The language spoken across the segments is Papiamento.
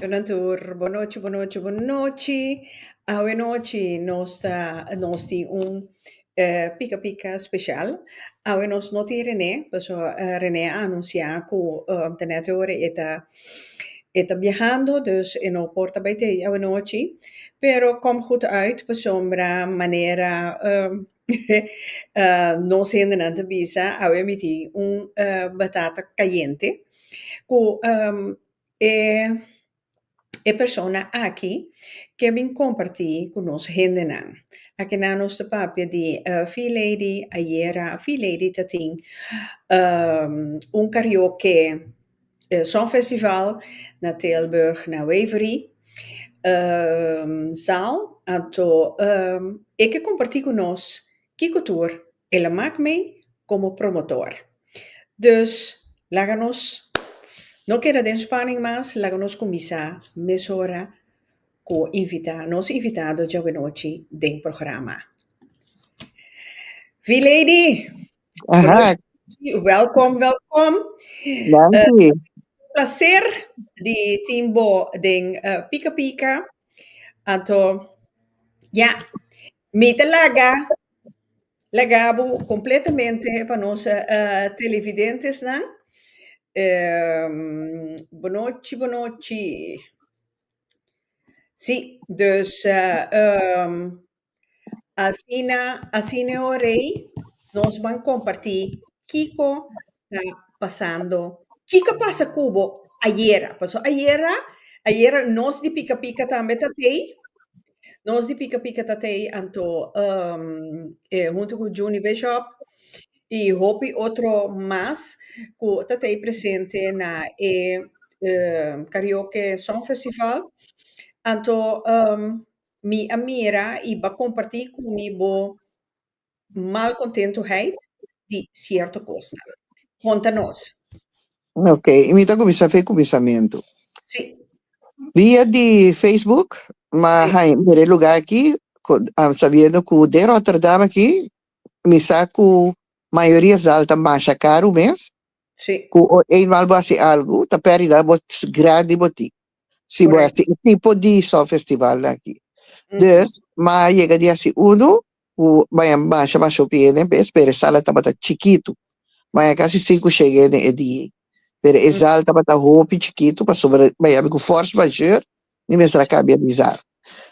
Con nan tur bonochi bonochi bonochi awe nochi nos ta nos tin un pika pika special awe nos no tin Rene pasobra Rene a anuncia cu tenet e ora e ta E ta biahando dus e no por ta bai tei awanochi, pero kom goed uit pasobra manera nos hendenan ta bisa awe mi tin un batata cayente cu e persona aki ke bin comparti cu nos hendenan, akina nos ta papia di Fee Lady ayera, Fee Lady ta tin un carioke E Songfestival na Tilburg na Waverey zaal, anto e ke kompartí ku nos kiko tur el a mak mee komo promotor. Dus laga nos no keda den spaning mas, laga nos kuminsá mesora. Cu invita nos invitado djabuenochi den programa. V Lady! Welkom, welkom! Danki! Placer di tin bo den Pika Pika. Anto, ja, mi ta laga, laga bo completamente pa nos televidentesnan. Bonochi, bonochi. Sí, dus ehm asina asina e ora ei nos ban kompartí kiko ta pasando, kiko a pasa ku bo ayera, paso ayera ayera nos di pika pika tambe ta tei, nos di pika pika ta tei, anto ehm e huntu ku Juni Bishop y hopi otro mas cu ta tey presente na e Karaoke Song Festival, anto mi a mira y ba comparti cu mi bo mal contentoheid di cierto cosnan. Conta nos. Ok, mi ta cuminsa fe cuminsamento. Si. Via di Facebook, ma hay mire lugar aki, sabiendo cu den Rotterdam aki Mi sa cu mayoria zal ta masha caru mes. Sí. Cu o eenmaal bo haci algo, ta peridad bo grandi bo tin. Si bo haci e tipo di solfestivalnan aki. Dus, ma a yega di haci uno cu maya masha, masha hopi hende, p'e speresala tabata chikitu. Maya casi sinku, shei hende e di. pero e zal tabata hopi chikitu pasobra e tabata yabi ku fors major mi mes a kambia di zal.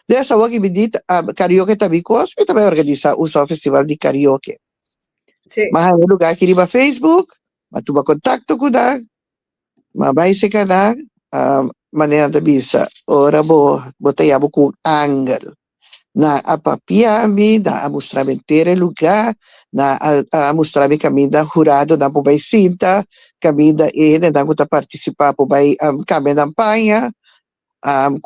Des awor ki bidit a karioke ta mi kos mi ta bai organisa un sòl festival di karioke. Sí. M'a haña lugá aki riba Facebook, m'a tuma kontakto ku nan, m'a bai seka nan, a manera nan ta bisa ora bo bo ta yabi ku un angel. Nan a papia mi, nan a mustra mi entero e lugá, nan a mustra mi kaminda huradonan por bai sinta, kaminda e hendenan ku ta partisipá por bai kambia nan paña,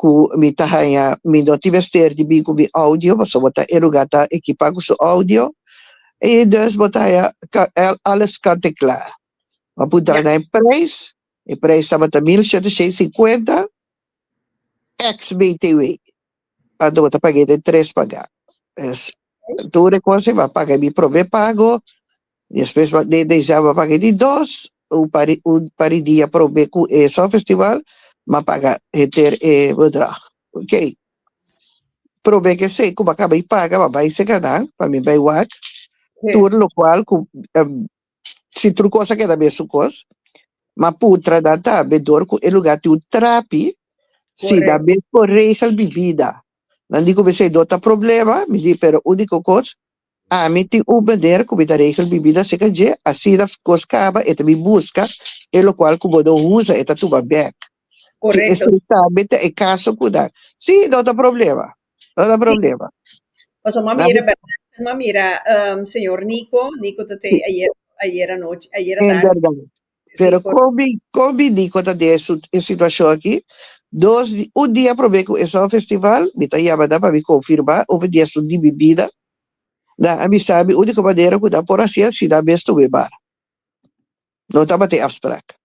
ku mi ta haña mi no tin mester di bin ku mi oudio, pasobra bo ta e lugá ta ekipá ku su oudio, i dus bo ta haña alles kant en klaar. Bo a puntra nan e preis, e preis tabata mil shèt i shei i sinkuenta, ex BTW pa do bo ta pag'e den tres pagá. Es tur e kos ei bo a paga di promé pago, despues bo den deziá bo a paga di dos, un par di un par di dia promé ku e Songfestival bo a paga henter e bedrag. Ok. Promé ke esei ku bo a kaba di paga bo a bai Sekanan, pa mi bai wak, tur lokual ku Si tur cos a keda be su cos. Ma putra da ta bedor cu e lugar tin un trapi. Si da be por regel bibida. Nan di cu mi seidor ta problema, mi di pero unico cos, ami tin un maner cu mi ta regel bibida seca dje, asina cos caba e ta bin busca e locual cu bo no usa e ta tuma bek. Si esey ta be ta e caso cu nan. Si, no ta problema. No ta problema. Pasobra m'a mira, bèrdad, m'a mira señor Nico, Nico ta te ayer, ayer anochi, ayer E atardi. bèrdad. Sí, Pero correcto. kon bi, kon bi Nico ta den e su, e situashon aki? Dos, un dia probé ku esou a festival, mi ta yama nan pa mi konfirmá ov e diasun di mi bida. Nan a bisa mi úniko manera ku nan por hasié si nan mes tumbe bar. No tabata e afsprak.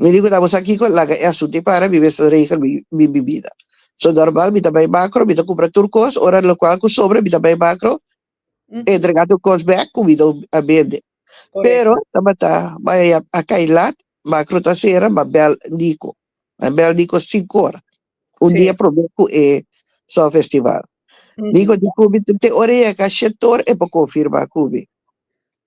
Mi di ku ta bo sa kiko laga e asuntu ei para mi mester regel mi mi bida so normal mi ta bai makro mi ta kumpra tur kos ora lokual ku sobra mi ta bai makro entrega tur kos bek ku mi don a bende pero tabata bai a kai lat makro ta sera mi a bel Nico mi a bel Nico sinku ora un dia probe ku e Sòl Festival Nico di ku mi te ora yega shit tur e por konfirma ku mi.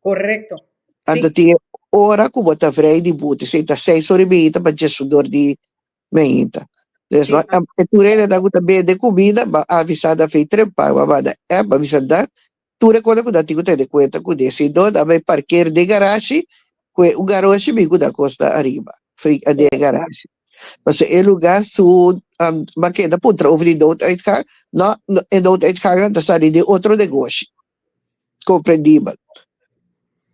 Correcto. Si. Anta tin e ora cu bo ta vrei di buti. Si ta seis ora di bihita pa dies su dor di mehinta. Entonces bo a e tur e edad cu ta bebe di cumida bo a avisa da fey trempa. Bo a manda app bo a bisa da tur e cosa cu da tin cu ta hende cuenta cu di. Si no da bay parker den garashi cu e un garoshi mi cu da cos ta ariba fey a den e garashi. Pasobra e lugar su bo a keda puntra over di nood uitgang. No e nood uitgannan ta sali den otro negoshi. Comprendibel.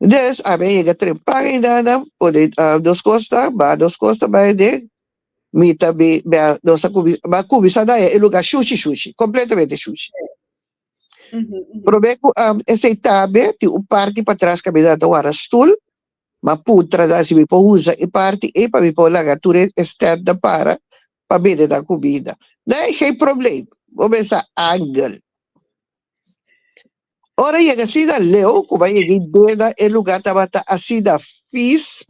Endes, a mei yega tren paga i nana por e dos cos ta ba, dos cos ta bai den, mi ta be, be a, nos a cubi, ba cubiza na e lugar shushi, shushi, completamente shushi. Probe cu am esei tambe tin un parti pa tras ca mi nan ta wara stoel, ma puntra nan si mi por uza e parti ei pa mi por laga tur e stand nan para pa bende nan cuminda. Nan e geen problem. Bo mester angel. Ora e yega asina, leu ku bai yega i deda e lugá tabata asina fis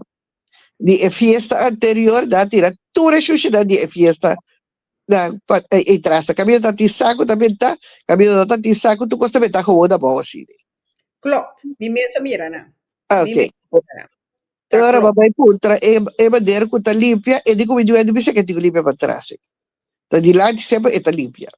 di e fiesta anterior, nan a tira tur e shushinan di e fiesta, nan pa e trasa. Kaminda ta tin sa ku ta bentá, kaminda no ta tin sa ku tur kos ta bentá howou na bou asina. Klopt, mi mes a mira nan. Mi mes a mira nan. E ora bo a bai puntra e e mader ku ta limpia, e di ku mi dueño mi sa ke tin ku limpia pa trasa. Ta dilanti semper e ta limpia.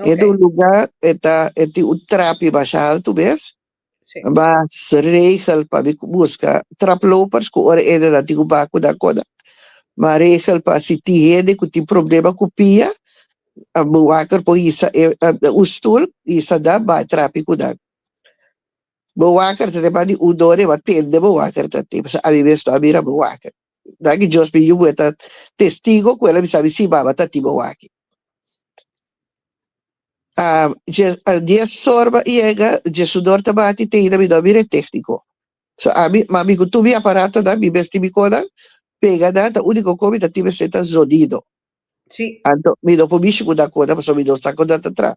Okay. E do lugar e ta e tin un trapi basha alto bes. Sí. Bas regel pa bi busca traplopers cu ora ede da tin un baco da coda. Ma regel pa si tin hende cu tin problema cu pia, a bewaker por isa e, a, un stoel, isa da ba trapi cu dan. Bewaker ta depan di un dor e ba tende bewaker ta tin. Pasa abi bes ta mira bewaker. Daki Dios mi yubu e ta testigo cu ela mi sabi si baba ta tin bewaker. Ah, dje, ah, dies sorba yega, dje sudor ta bati te ida midor bira e tékniko. So, ami, ma mi ku tur mi aparatonan, mi mes tin mi konan pega nan, ta úniko ko mi ta tin mester ta zonido. Sí. Anto, mi no por mishi ku nan konan, pasobra mi no sa kon nan ta traha.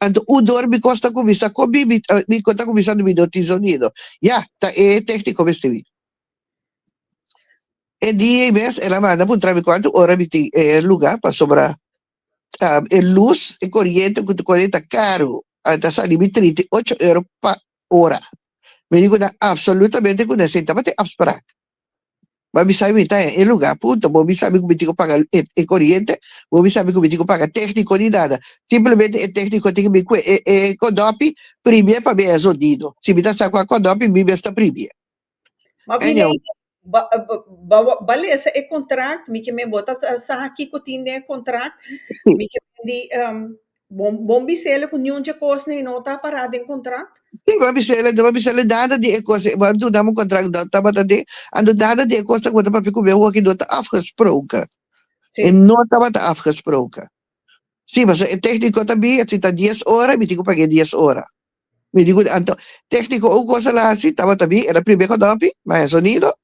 Anto u dor bikos ta kuminsá ko bibi biko ta kuminsá dubi do tin zonido. Ya, ta e tékniko mestebi. E dia ei mes el a manda puntra mi kuantu ora mi tin e lugá pasobra e lus, e koriente ku ta kore ta karu. A ta sali mi trinta i ocho euro pa ora. Mi di ku nan absolutamente ku nan esei tabata e afsprak. Bo a bisa e mita e luga punto. Bo a bisa mi ku mi tin ku paga e e koriente, bo a bisa mi ku mi tin ku paga tekniko ni nada. Simplemente e tekniko tin ku bin kue e e kondopi primie pa mi a eso dido. Si mi ta sa ku a kondopi mi mes ta primie. Anyhow. Ba ba ba lesa e kontrakt mi ke men bo ta sa kiko tin den e kontrakt mi ke men di Bon bon bisele cu niun dje cosnan y no ta para den contract? Si, bo a bisele, no bo a bisele nada di e cosnan. Bo a do nam un contract, no tabata den, a do nada di e cosnan cu bo ta papia cu mi awo aki no ta afgesproken. Si. E no tabata afgesproken. Si, pasobra e tecnico ta biya, si ta dies ora, mi tin cu pag'e dies ora. Mi tin cu, anto, tecnico un cos el a haci, tabata bi, el a prime con hopi, baña sonido,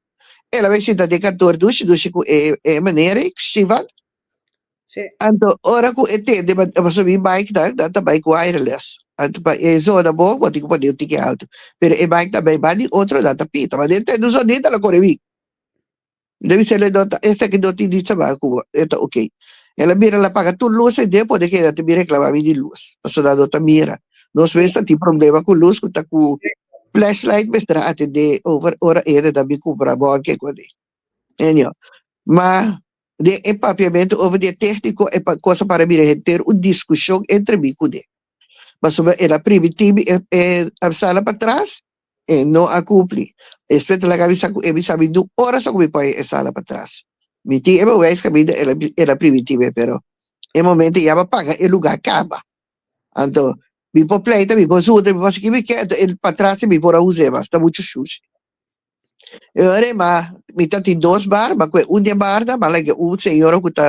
el a bay sinta den kantoor dushi, dushi cu e, e meneer, e Shivan, Anto ora cu e tende pa pa subi bike nan nan ta bike wireless anto pa e zona bo bo tin ki pone un tiki alto pero e bike nan bay bandi otro nan ta pita ma den tende so ni ta lo core wik mi ta bisa el no ta esta ki no tin di sabá cu bo e ta ok el a mira el a paga tur luz e den pone keda te mi reclama mi di luz paso nan no ta mira nos mes ta tin problema cu luz cu ta cu flashlight mester a atende over ora ere nan mi cumpra bon keko Enya. Ma den e papiamentu over di e tehniko e kosa para bira henter un diskushon entre mi ku ne. Pasobra el a pribi tibi e e avsala patras, e no a kumpli. Espe ta laga mi sa ku e bisa mi dun ora so ku mi pone e sala patras. Mi tin e beweis kaminda el a el a pribi tibi e pero e momento e yama paga e luga kaba. Anto mi por pleita, mi por zunta, mi por hasi ki mi ke, anto e patras mi por a usa e mas ta muchu shushi. E ora ma mi ta tin dos bar, ma kue un di e barnan, ma like un señora ku ta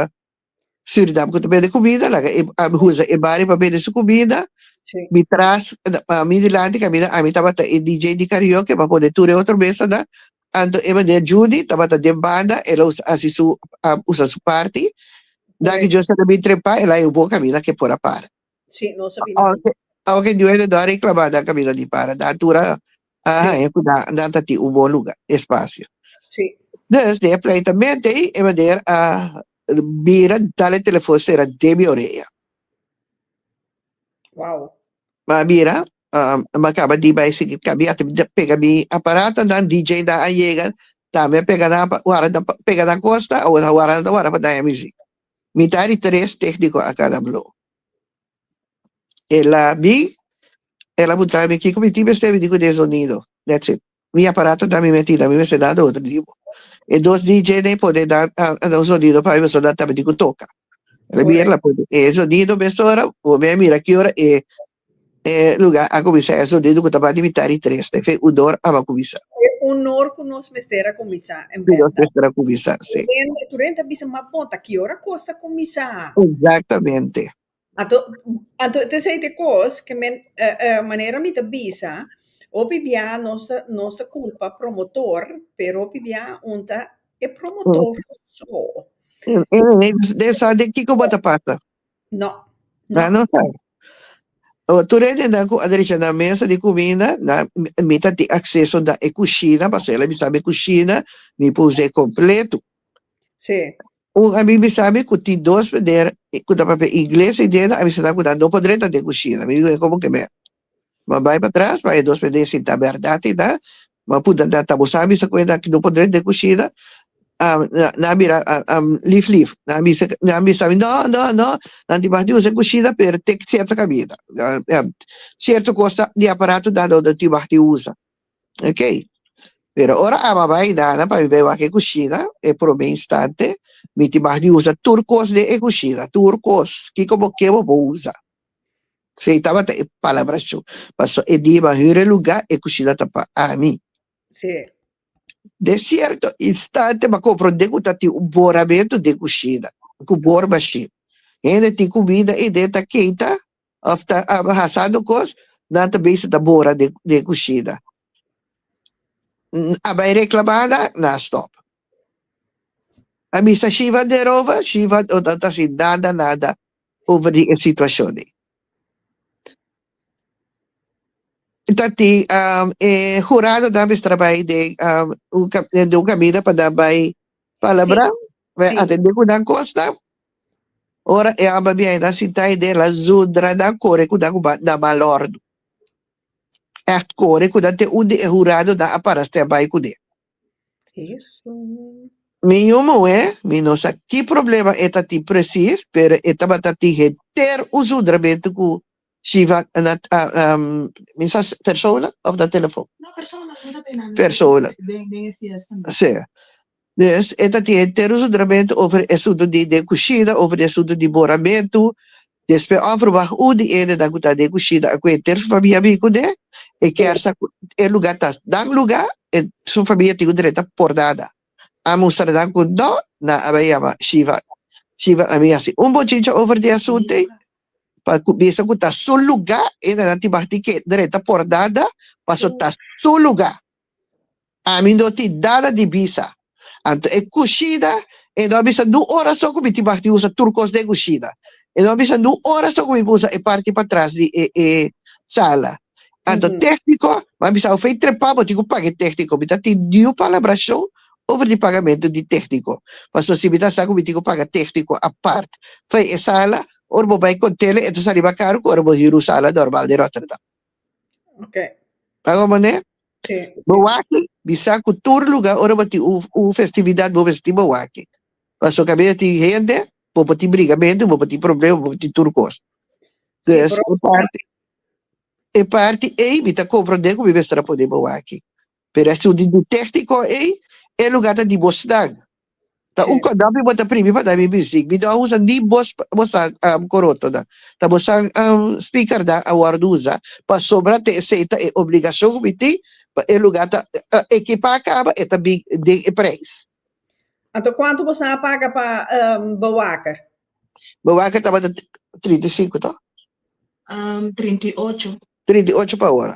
Surinam ku ta bende kumida, laga e a usa e bar pa bende su kumida, Sí. mi tras a mi dilanti kamina ami tabata e DJ di karaoke, ma pone tur e otro mesa nan, anto e mane Judy tabata den banda, el a usa hasi su a usa su parti, dan Correct. Diosa na mi trepa, el a e bo kamina ke por a para. Sí, no sa bini Aunque, aunque dueño do a reclamar dan camino di para, dan tura a Sí, haña cu dan, dan ta tin un bon lugar, espacio. sí. Dus, den e pleitamente ei, e manera a bira tal e telefon sera den mi orea. Wow. Ma bira, um, ma caba di bay sigi cambia, te de- pega mi aparato, dan DJ dan a llega, tambe pega dan, pa- wara dan, pa- pega dan costa, o wara dan wara pa daña muziek. Mi ta ari tres técnico a cada blow. El a bi, el a puntra mi kiko mi tin mester bini ku den zonido. That's it. Mi aparato ta mi menti, ta mi mester da do otro tipo. E dos DJ na e pone da da un zonido pa e persona ta bini ku toka. El a bi, el a pone e zonido mes ora, bo mi a mira ki ora e E luga a cuminsa ezo dedo cu tabata di mita di tres ta efec udor aba cuminsa. E unor cu nos mester a cuminsa en Cu nos benda. mester a cuminsa, si. Benda, tur hende a bisa, ma bon, ta ki ora cos ta cuminsa? Exactamente. Anto, anto it is ete cos cu men, manera mi ta bisa, hopi bia nos ta, nos ta culpa promotor, pero hopi bia un ta e promotor so. Ene, ene, den sa den kico bo ta pasa? No. Na no sa. Tur hendenan ku a dresha na mesa di kuminda, na mi ta tin akseso na e kushina, paso el a bisa mi kushina mi por usa e kompletu. Sí. Un ami mi sa mi ku tin dos meneer ku ta papia ingles ei dena, a bisa nan ku nan no por drenta den kushina. Mi di ku e komo ke men. Bo bai patras, bai dos bendé si ta berdad i ta. Bo punta nan ta bo sabi sa cuenta cu no por dret den cushina? Ah, na- nan a bira ah, ah, lif lif. Nan a bisa, nan a bisa mi, no, no, no, nan debah di usa e cushina pero te cierto cabida. Ah, ah, cierto cos ta, di aparato ta lo debah di usa. Ok. Pero ora Ama bai Nana pa mi bai wak e cushina, e prome instante, mi debah di usa tur cos den e cushina, tur cos. Kico bo ke bo por usa. Sei tabata e palabra su, paso e di, Bo a hura e luga, e kushina ta pa ami. Sí. De sierto, instante bo a kompran den ku ta tin un bor adentu den kushina, ku bor mashin. Hende tin kumida ei den ta keita òf ta hasando kos, nan ta bisa ta bora den den kushina. A bai reklamá nan, nan a stòp. A bisa Shiva derover, Shiva ta si nada nada, over di e situacion ei. Ta tin um, e hurado ta mester bai den um, un, ca- den un camino pa nan bai palabra, bai Sí. atende cu nan cosnan. Ora e amba biai nan sintai den la zundra nan core cu nan cu ba- na mal ordo. Echt core cu nan te un di e hurado nan a para step bai cune. Mi yu muhé, mi no sa ki problema e ta tin presis, pero e tabata tin henter un zundramentu ku Shiva a na mi sa si persona òf na telefòn? Persona. Sí. Dus e ta tin henter un zundramentu over e asuntu di den kusina, over e asuntu di boramentu, Despues offer wak un di edenan ku ta den kushina a ku e ter su famia bin ku ne, e kier sa ku e luga ta nan luga, e su famia tin un drenta por nada. A mustranan ku no, nan a bai yama Shiva. Shiva a bin hasi un bochincha over di asunten, pa ku mester ku ta su luga, edenan tin wak tin ke drenta por nada, paso ta su luga. Ami no tin nada di bisa. Anto e cushida, e no a bisa n'un ora so cu mi tin mah di usa tur cos den cushida. E no a bisa n'un ora so cu mi por usa e parti patras di e e sala. Anto tecnico, mi a bisao fey trepa bo tin cu paga e tecnico. Mi no a tin niun palabracion over di pagamento di tecnico. Pasobra si mi ta sa cu mi tin cu paga tecnico apart fey e sala, ora bo bay con tele e ta saliba caro cu ora bo hiru sala normal den Rotterdam. Ok. Ta go mané? Sí. Bo waki, bisa ku tur luga ora bo tin un un festividat bo mester tin bo waki. Paso kabia tin hende, bo por tin briga mi hende, bo por tin problema, bo por tin tur kos. Sí, Des pero e parti e parti ei mi ta komprondé ku mi mester a pone bo waki. Pero e su di ditéctico ey, e lugar ta di Bostag. Ta un condom y bo ta primi pa dami bisic. Mi no usa ni bos Bostag am coroto nan. Ta Bostag am speaker nan a wordo usa. Pasobra te esey ta e obligacion cu mi tin pa e lugar ta ekipa caba e ta bin den e prijs. Anto cuanto bo sa a paga pa bewaker? Bewaker tabata trinta i sinku to? Trinta i ocho. Trinta i ocho pa ora.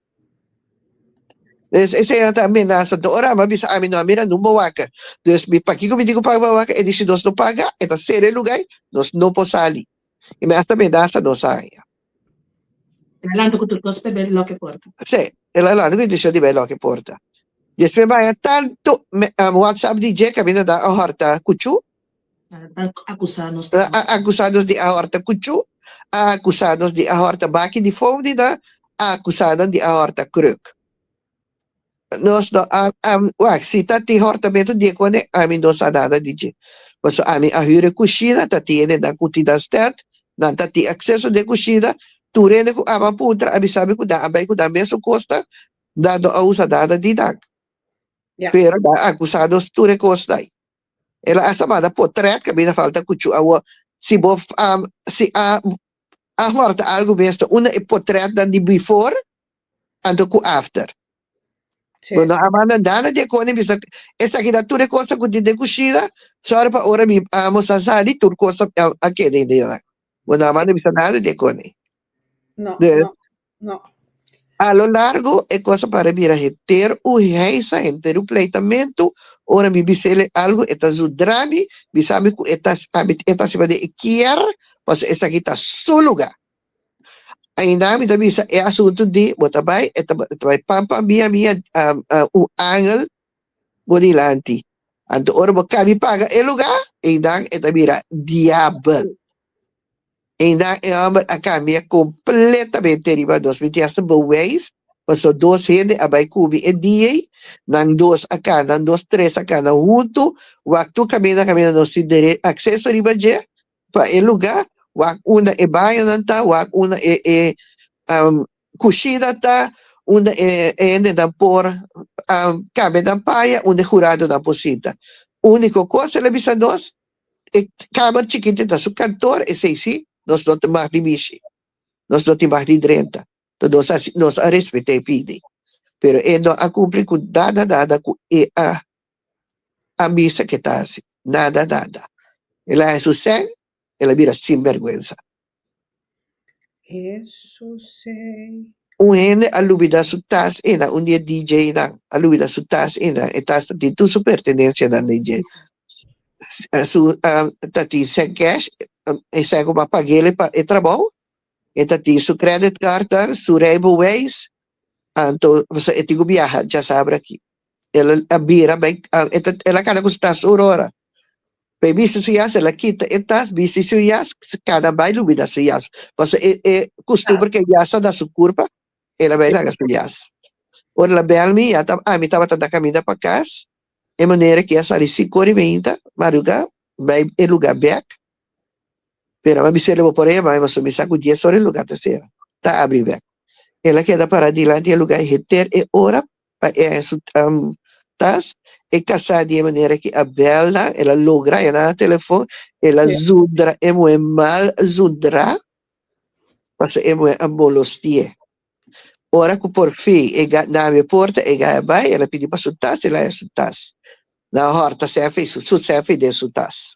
Es, e señor ta amenasa, ta ora, ma bisa ami, no a mira nun bo waka. Dus, mi pakico mi di cu paga bo waka? E di, si nos no paga, e ta sera e lugai, nos no por sali. E mi asta amenasa nos aña. El a lanta cu tur cos pa e bai lock e porta. Sí, el a lanta cu intencion di bai lock e porta. Despues mi a haña tanto me, um, WhatsApp di dje, caminda dan a horta cucu, a akusados di ahorta kuchu, a akusados di ahorta baki di foudi nan, a akusado di ahorta kruk. Nos no a wak, si ta tin hortamentu dié kone ami no sa nada di dje. Paso ami a hüre kushina, ta tiene nan ku tin nan stèt, nan ta tin akseso den kushina, tur hende ku aman puntra ami sabe ku nan a bai ku nan mesun kosnan, nan no a usa nada di nan. Pero nan a akusados tur e kosnan. El a sa manda por trek, mi no falta cuchu awo. Si bo si a a horta algo mesto unda e por treknan di before anto cu after. Bo no a manda nada di e cona, mi bisa esaki ta tur e cosa cu tin den cushina, sorry pa ora mi a almosa a sali tur cosa a keda ain den yonan. Bo no a manda bisa nada di e cona. No, no. No. A lo largo e cosa para bira heter u heisa henter u pleitamentu ora mi bisele algo e ta zudrami mi sabi cu e ta e ta siba den e kier paso esaki ta su luga ainda mi ta bisa e asuntu di bo ta bai e ta e ta bai pam pam mia mia un angel bo dilanti anto ora bo cabi paga e luga einan e ta bira diabel. Eindá e hòmber a kambia kompletamente riba nos. Mi tin hasta bewèis, pasó dos hende a bai kubi e dia ei, nan dos a kana, nan dos tres a kana huntu, wak tur kaminda kaminda nos tin dere akseso riba dje pa e lugá, wak unda e bañonan ta, wak unda e e kushina ta, unda e e hendenan por kambia nan paya, unda e huradonan por sinta. Úniko kos el a bisa nos, E kamer chikiti ta su kantor esei si nos no ta mas di bishi nos no tin mas di drenta to nos a nos a respet'e pidi pero e no a kumpli ku nada nada ku e a a bisa ke ta hasi nada nada el a hasi su sèn el a bira sinbèrgwensa Jesus ei. Un hende a lubida su tas i na un di e DJnan a lubida su tas i na e tas ta tin tur su pertenencianan den dje. Su ta tin sèn cash e sèn ku bo a pag'el e trabou e ta tin su credit cardnan su rijbeweis anto e tin ku biaha dja sabra aki. El a bira bai, a, e ta, el a kada ku su tas tur ora. Pa e bisti su yas, el a kita e tas, bisti su yas, s- kada bai lo bira su yas. Paso e, e kustumber ku e yas ta na su kurpa, el a bai laga su yas. Ora el a bèl mi, ya ta, ami tabata na kaminda pa kas, e manera ku i a sali sinku ora i beinta, maduga, bai e lugá bèk, pero ami bisa el bo por ema, ema so mi sa ku dies ora e lugá ta sera, ta abri bèk. El a keda pará dilanti e lugá e henter e ora Pa e su tas e kasá di e manera ki a bèlda el a logra e nan telefon el a zundra e muhé mal zundrá pasobra e muhé a molostié ora ku por fin e gata nan abi e porta e gata bai el a pidi pa su tas el a haña su tas nan a hòrta sèf ei su sèf ei den su tas.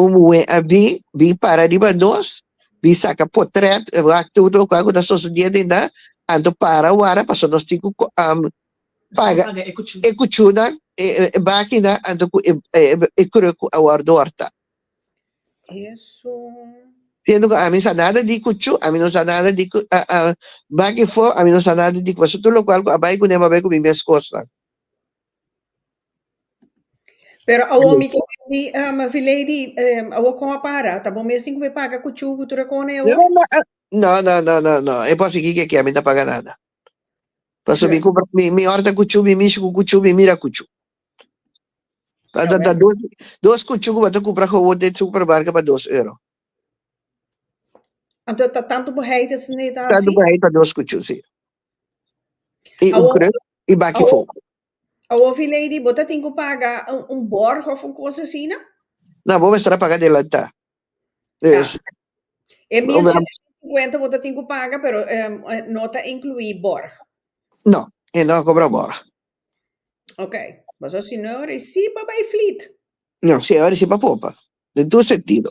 Un muhé a bin, bin para riba nos, bin saka potrèt, wak tur lokual ku ta sosodiendo inda, anto para wara pasobra nos tin ku paga e kuchunan, e bakinan, anto ku e kruk ku a wòrdu hòrta. Siendo ku ami no sa nada di kuchu, ami no sa nada di baki fo, ami no sa nada di, pasobra tur lokual ku a bai kuné bo a bai ku mi mes kosnan. Pero awor mi ta bini, um Vilady, um awor con a para? Ta bo mes tin cu me paga cu chu cu tur e cona e awor? No, no, no, no, no, e por asiki ke kia mi ta paga nada. Paso mi cumpra, mi, mi horta cu chu, mi mishi cu cu chu, mi mira cu chu. Ta, ta, ta dos, dos cu chu cu bo ta cumpra cu awor den supermarket pa dos euro. Anto ta tanto bo hei ta sende ta Tanto hasi? pa hei pa dos cu chu, si. I un kruk i baki fo. Awor fi lady bo ta tin ku paga un borg of un kos asina? Na bo mester a paga adelanta. Yes. E mil shententa i sinkuenta bo ta tin ku paga pero no ta inklui borg. No, e no a kobra borg. Ok, pasobra si no e ora i si pa bai flit. No, si e ora i si pa popa. Den tur sentido.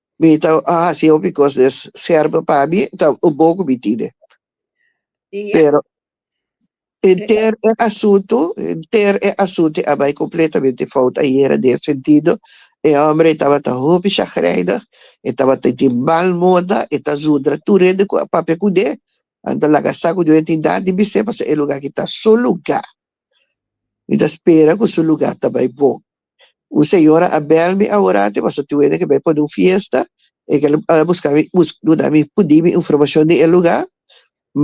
Mi ta a hasi hopi cos des serba pa mi, ta un boco mi tine. Y ya. Pero enter e asunto, enter e asunto a bay completamente fout ayera den e sentido, e hombre tabata hopi chagrijnig, e tabata tin mal moda, e ta zundra tur hende cu a papia cu ne, a ta laga sa cu no e tin nan di bisé, pasobra e lugar aki ta su lugar. Mi ta spera cu su lugar ta bay bon. Un señora a bel mi awora te paso tin wende cu bay pone un fiesta. E kel a busca mi, duna mi pudi mi informacion di e lugar.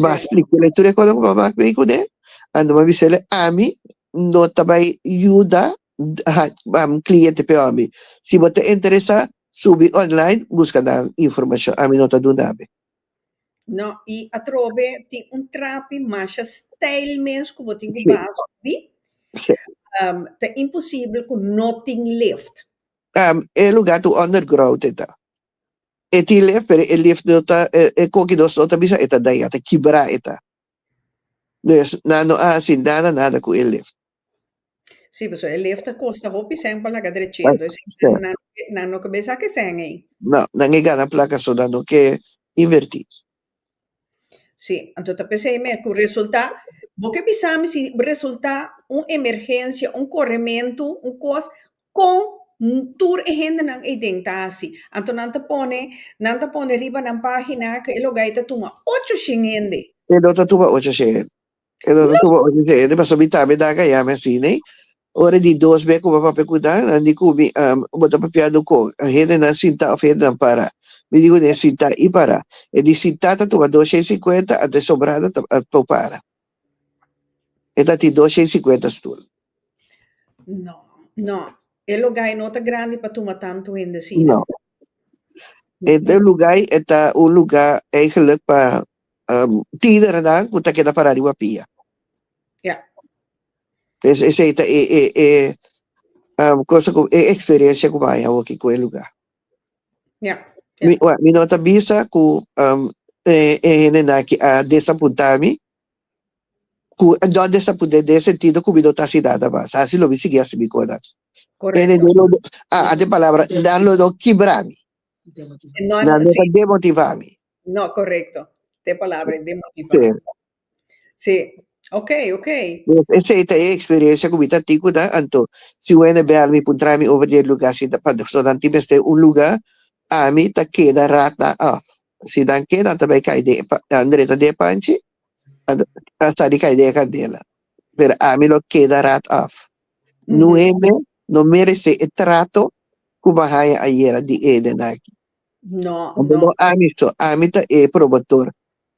Ma splikele tur e cosa cu mama aki cu ne. A no bisele ami no ta bay yuda cliente peor mi. Si bo ta interesa subi online busca nan informacion. Ami no ta duna be. No, y atrobe tin un trapi masha stijl mes cu bo tin cu baza obi. Sí. Um, ta imposible cu no tin lift. Um, e lugar tu underground e ta. E tin lift, pero e lift no ta, e, e cogidos no ta bisa e ta daña, ta kibra e ta. Des nan no a hasi nada nada ku e lift. Sí, pasobra e lift ta kosta hopi sèn pa laga drechento, esei nan Sèn. nan no ke nan no ke besá ke sèn ei. No, nan e gana plaka so nan no ke invertí. Sí, anto ta p'esei mes ku resultá, bo ke bisami si resultá un emergensia, un korementu, un kos, Kon tur e hendenan ei den ta hasi? Anto nan ta pone nan ta pone riba nan página ku e lugá ei ta tuma ocho shen hende. E no ta tuma ocho shen hende. E no ta tuma ocho shen hende pasobra mi ta habi nan gayami así, nee. Ora di dos mes ku bo a papia ku nan, nan di ku mi, Am, bo ta papiando kon hendenan sintá òf hendenan pará? Mi di ku nan, E sintá i pará. E di sintá ta tuma dos shen sinkuenta, anto e sobrando ta ta para. E ta tin dos shei sinkuenta stul. No, no. E lugay no ta grandi pa tuma tantu hende asina. No. E e lugay e ta un luga eigenlik pa um tinernan ku ta keda pará riba pia. Ya. Es esei ta e e e um kosa ku e eksperensia ku mi a haña hoki ku e luga. Yeah. Mi, yeah. mi no ta bisa ku um, e, e hende naki a desapunta mi. Ku no desapunta de sentido ku mi no ta si nada mas. Asi lo mi sigi asi mi kona. Hende no lo a a de palabra na lo no kibra mi. No, Na no ta demotiva mi. no correcto. Te palabra demotiva. Sí. Sí, oké, oké. Pues esei ta e eksperensia ku mi ta tin ku nan, anto si wende bèl mi p'un traimi over di e lugá si nan pa so nan tin mester un lugá, ami ta keda rat nan òf. Si nan ke nan ta bai kai den e pa nan drenta den e panchi, anto nan sa di kai den e kandela. Pero ami lo keda rat òf. Nu Mhm, hende no meresé e trato ku bo a haña ayera di hendenan aki. No, Anto no. no ami so, ami ta e promotor.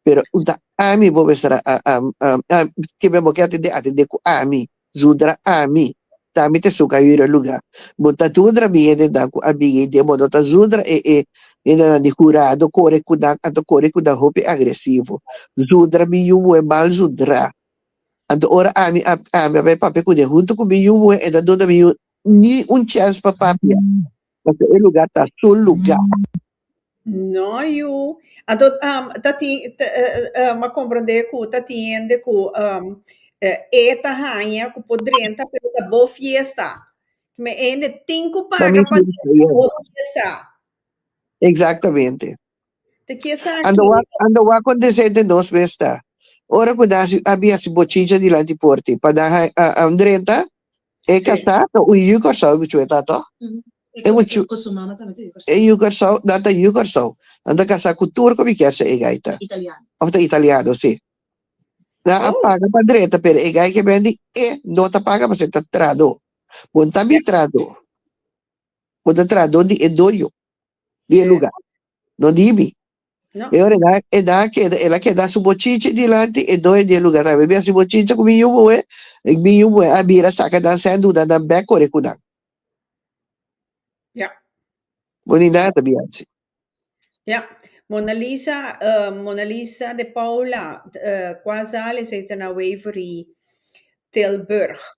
Pero if ta ami bo b'estará ke men bo ke atendé, atendé ku ami. Zundra ami ta mi te suka yu e lugá. Bo ta dundra mi hendenan ku a bini den bo no ta zundra e e hendenan di hurado kore ku nan anto kore ku nan hopi agresivo. Zundra mi yu muhé mal zundrá. Anto ora ami a ami a bai papia kuné huntu ku mi yu muhé e no a duna mi yu ni un chèns pa papia paske e lugá ta su lugá. No yu a do ta tin um a komprende ku ta tin hende ku um e ta haña ku por drenta pero ta bo fiesta me e hende tin ku paga pa drenta pa bo fiesta Exactamente te ke sa ki Ando wak ando wak kontesé den nos mes ta ora ku nan a hasi bochicha dilanti por ti pa nan a drenta E kasá ta un yu Kòrsou, e buchu'e ta tò? E buchu. Ku su mama tambe ta yu Kòrsou. E yu Kòrsou, nan ta yu Kòrsou. Nan ta kasá ku tur kumiker si e gai ta. Italiano. Òf ta italiano, si. Nan a paga pa dreta, pero e gai ke ben di e no ta paga pasobra e ta trahadó. Bon tambe trahadó. Bo ta trahadó di e doño di e lugá, no di mi. No. E ora da, e da keda, ela keda su bochiche dilanti e doe di e lugar. Tabe bia si bochiche ku biyu boe, e biyu boe a bira saka dan sen duda dan bek kore ku dan. Ja. Bonita ta bia si. Ja. Mona Lisa, eh, Mona Lisa de Paula, eh, Kwazale, zij ten a Waverly, Tilburg.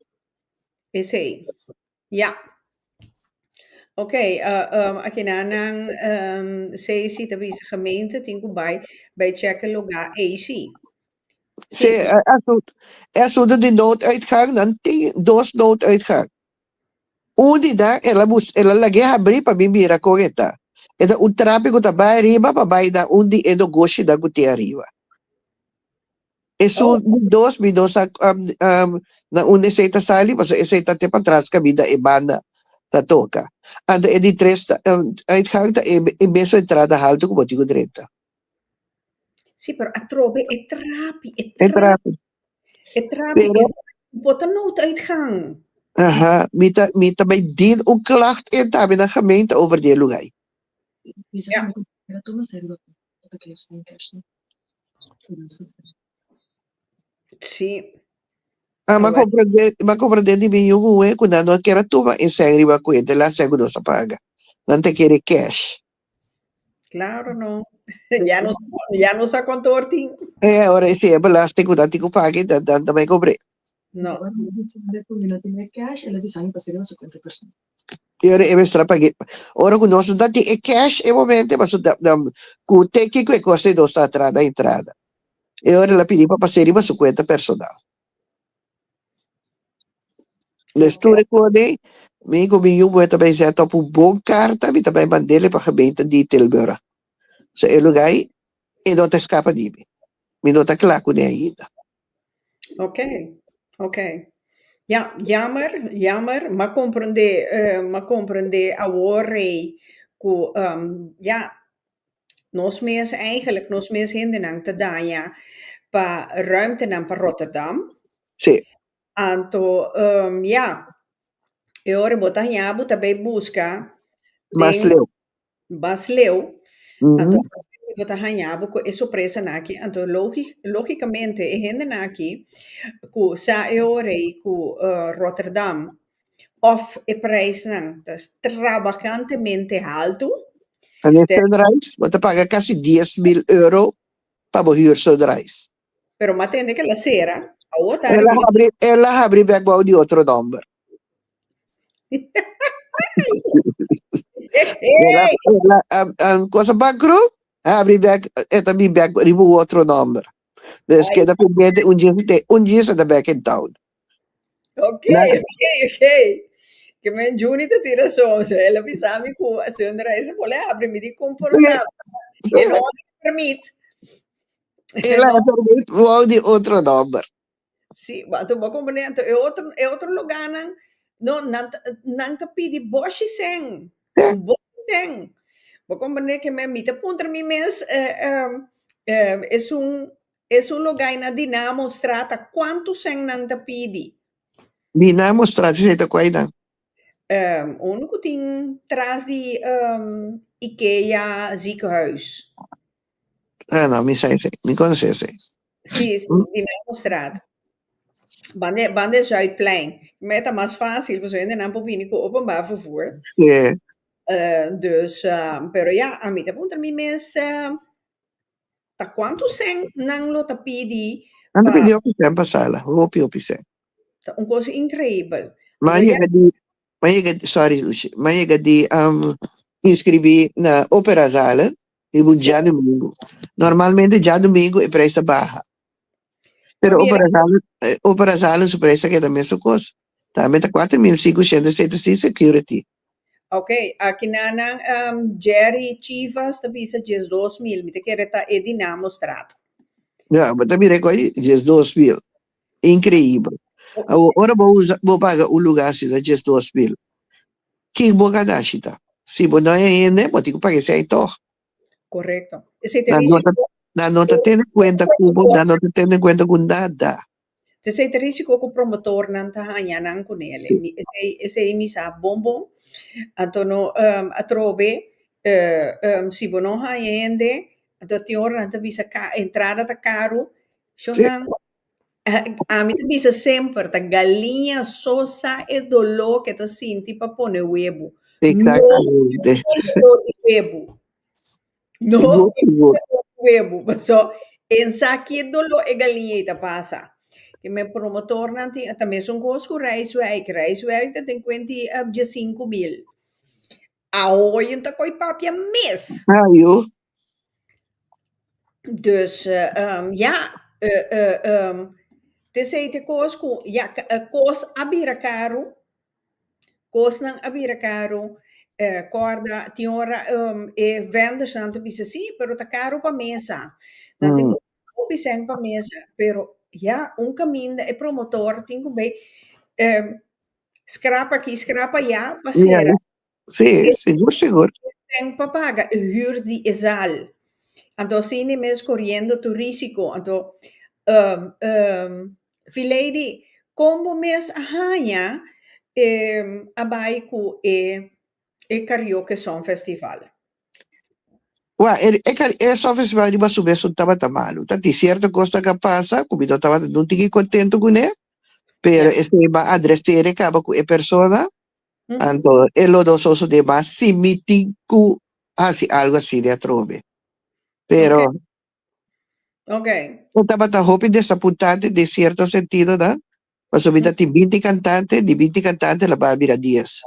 Is hij. Ya. Ok, akina nan CIC ta bisa gemeente tin ku bai bai chèk'e lugá eysi. Sí, e asuntu di nooduitgang nan tin dos nooduitgang. Un di nan e la bus e la lag'é habrí pa mi mira kon e ta. E ta un trapi ku ta bai ariba pa bai na un di e nogoshinan ku tin ariba. Esun mi dos mi dos a na un esey ta sali paso esey ta te patras kabida e banda ta toka anto e di tres ta uitgang ta e mesun entrada haltu ku bo tin ku drenta. Si pero atrobe e trapi e trapi e trapi e bo ta nou ta uitgang. Aha mi ta mi ta bai din un klacht en tabe na gemeente over di e lugai. Sí. Ah, ma comprende, ma comprende di mi yugu we kuna no kera tuma e sen riba kuenta la sen kudo sa paga. Nan te kere cash. Claro, no. ya no, ya no sa contor tin. Eh, ahora ese e belasting kuna ti ku paga dan dan tamai comprende. No. Ela bisa mi pa seguir su cuenta personal. E ora e mestra pag'é. Ora ku nos no ta tin e cash e momento e pasobra ta ta ku te kiko e kos e dos ta atrás na entrada. E ora el a pidi pa pas'é riba su kuenta personal. Mes tur e kòrd'é, mi ku mi yu moe ta bai zèt òf un bon karta, mi ta bai mand'é riba gemeente di Tilburg. So e lugá ei e no ta eskapa di mi. Mi no ta kla kuné ainda. Oke oke ya yammer yammer m'a komprendé m'a komprendé awor ei ku ya nos mes eigenlik nos mes hendenan ta daña pa ruimtenan pa Rotterdam anto ya e ora bo ta haña bo ta bai buska den Bas leu, anto a hora ki bo ta hañá bo ku e sorpresanan aki, anto logi, lógikamente e hendenan aki ku sa e hora ei ku Rotterdam òf e preisnan ta strabakantemente haltu, te. Sunrise, bo ta paga kasi dies mil euro pa bo hür Sunrise. Pero m'a tende ke la sera, awor ta El a habri. habri, el a habri bek bou di otro nomber. El a, el a, a, a cosa bankru, habri bek, e ta bi bek riba un otro nomber. Dus Ay. keda pendente un djis te, un djis e ta bek in town. Ok, Na- ok, ok. Ke men Juni ta tira son, so el a bisa mi ku Sundra ese pole habri mi di kumpo Sí. lugaba. Sí. E no habri permit. E la e por bay wou di otro nomber. Sí, bo a tabao comprende. Anto e otro, e otro luganan, no, nan ta, nan ta pidi boshi sèn, un boshi sèn. Bo comprende ke men, mi ta puntra mi mes, esun, esun logaina Dinamo Strata, kuantu sèn nan ta pidi? Dinamo Strata, esei ta kuai nan? Unu ku tin tras di Ikea Ziekenhuis. No, no, mi sa esei. Mi conoce esei. Sí, sí, Mm. di Nano Straat. Van de, van de Zuidplein. Mij ta mas fácil, pues hoende nan por bini cu openbaar vervoer. Sí. Eh, dus, eh, pero ja, a mi ta puntra mi mes, eh, ta cuánto cent nan lo ta pidi Nan te pa... pidió pisar en pasala. Hopi, hopi sen. Ta un cosa increíble. Ma Pero ja, llega di, M'a yega, sorry Lucia, m'a yega di inscribí na Opera Zale riba un djadumingu. Normalmente djadumingu e prijs ta baha. Pero Opera Zale, Opera Zale su prijs ta keda mesun kos. Tambe ta kuater mil sinku shenta seta sin security. Ok, aki nan nan Jerry Chivas ta bisa djes dos mil. Mi ta kere ta e di nan mostrado. Ya, bo ta mira e kos di djes dos mil. Increíbel. Awor, ora bo usa, bo paga un lugá así na djes dos mil, kin bo ka nashi ta? Si bo no e hende, bo tin ku paga esei tòg. Correcto. Esei ta Nan no risi ta, koko. nan no ta tene kuenta ku bo, nan no ta tene kuenta ku nada. Ta esei ta risi koko promotornan ta haña nan ku nele. Sí. Mi, esei, esei mi sa bon bon. Anto no, em, atrobe, e, em, si bo no haña hende, anto tin ora nan ta bisa ka, entrada ta karu, Shonnan, ami ta bisa semper ta galiña so sa e doló ku e ta sinti pa pone webu. No por Exactamente. e doló di webu. No Sigur, por e sigur. doló di webu. Paso e sa ke doló e galiña ei ta pasa. Ki mi promotornan tin, ta mesun kos ku Rijswijk. Rijswijk ta den kuenta di e dies sinku mil. Awo yu ta koi papia mes. Ah, yu. Dus, ya, te sei te kos ku, ya, kos a bira karu, kosnan a bira karu, kòrda tin ora e vendersnan ta bisa sí, pero ta karu pa mesa, nan tin kos hopi sèn pa mesa, pero ya un kaminda e promotor tin ku bai skrap aki, skrap aya pa sera Sí, E sigur, e sigur. ten pa paga e hür di e zal. Anto asina mes koriendo tur risiko. Anto, ehm, ehm, Fileidy, kon bo mes a haña, ehm, a bai ku e, e Karaoke Songfestival? Wak, e, e, kar- e Songfestival riba su mes no tabata malu. Ta tin cierto cos ta ka pasa cu mi no tabata nun tiki contento cune, pero Yes. ese ba adreseren caba cu e persona Anto e lo dososo de mas simiti ku hasi algu asi di atrobe. Pero Okay. e tabata hopi desapuntante den sierto sentido, no? Pasobra mi ta tin binti kantante, di binti kantante lo baha bira dies.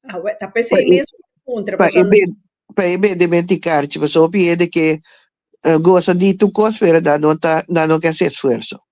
Ah, we, ta p'esei Pa e- mes puntra, Pa paso e ben, pa e bende menti karchi, paso hopi hende ke eh, gosa di tu kos pero nan no ta, nan no ke hasi esfuerso.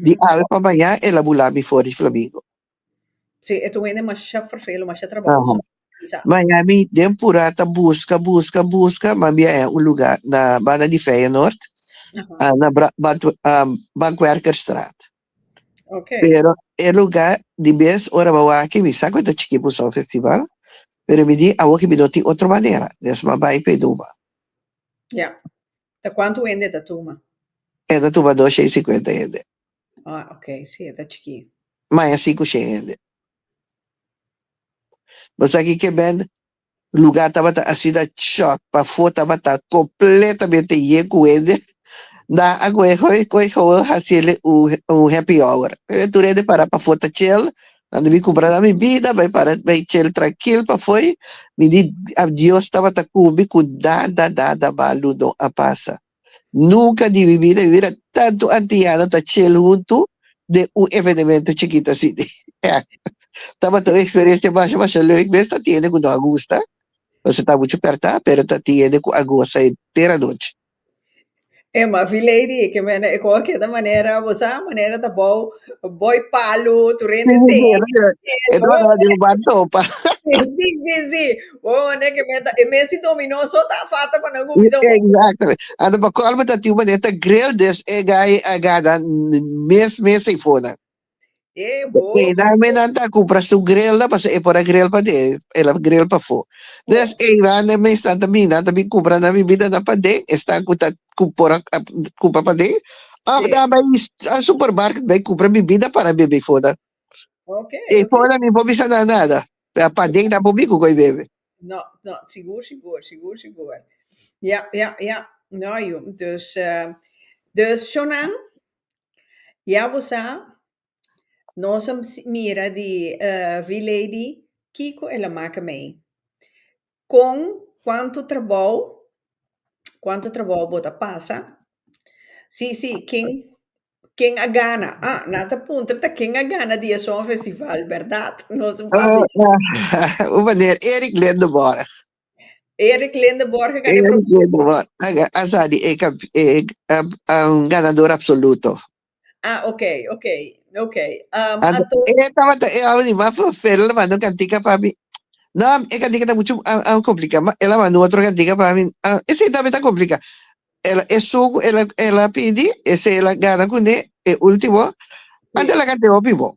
Di al pa bañá el a bulá bifor di flamigo. Sí, e ta un hende masha ferfelu, masha trabahoso. Sa. Baña mi den purá ta buska, buska, buska, ma mi a hén un lugá na banda di Feyenoord, Aha. ah, na Bra- Bant- ah, Bankwerkerstraat. Ok. Pero e lugá di bes ora ba waki, mi sa ku e ta chikí pa un son festival, pero mi di awor ki mi no tin otro manera, des ma bai p'e duma. Ja. Ta cuantu hende e ta tuma? E ta tuma dos shei cincuenta hende. Ah, ok. Si, e ta chikí. Maña si cu shen hende. Bo sa ki kebend lugá tabata asina chòk pafó, tabata completamente yen cu hende. Nan a cohe, cohe, cohe, cohe, haciele un, un happy hour. Tur hende para pafó ta chel, Cuando mi cumbra na mi bida, bay para bay chel trankil pafoy, mi di a Dios tabata cu mi cu nada nada malu no a pasa. Nunca di mi bida mi mira tantu antiano ta chel huntu den un evenemento chikit así. Eh, tabata un experiencia masha masha leuk mes, ta tiende cu no a gusta, nos a ta mucho perta, pero ta tiende cu a goza entera nochi. E mafi lady e ke mene e ko a keda manera bo sa manera ta bou boi palu tur hende te e bo bo mane si si si si bo bo mane ke mene ta e mes si dominó so ta afata kua nan ku bisa bo anta pa colmo ta tin un manera ta grill des e gai agada mes mes sey fona. Ey nan me nan ta compra su grill na paso e por a grill pa den el a grill pa fo des ey nan de me stan ta bin nan ta bin compra nan bibida nan pa den estan cu ta cu por a compra pa den of nan bay a supermarket bay compra bibida para bebe fo nan e fo nan mi por bisa nan nada pe a pa den nan por bin cu coy bebe. No, no, sigur, sigur, sigur, sigur. Ja, ja, ja. No, yu. Dus, eh, dus, Shonan, Ya bo sa, nos a mira di V-Lady kiko el a maka mei, kon kuantu trabou, kuantu trabou bo ta pasa, si, si, ken, ken a gana, a nan ta puntra ta ken a gana di e Sònfestival, bèrdat? Nos a papia. Hu maner Eric Lindebourg Eric Linde Borg a gana e Eric propia. Linde Borg a, a sa di e, e, a, a un ganador absoluto. Ah, ok, ok, ok. Um, And, ato... E tabata e audi ma fo fel ma no cantica pa mi. No, e cantica ta mucho a, a complica, ma ela ma no otro cantica pa mi. Uh, e si también ta complica. Ela e suco ela ela pidi, e se ela gana cune e último. Sí. Ante la cante opi bo.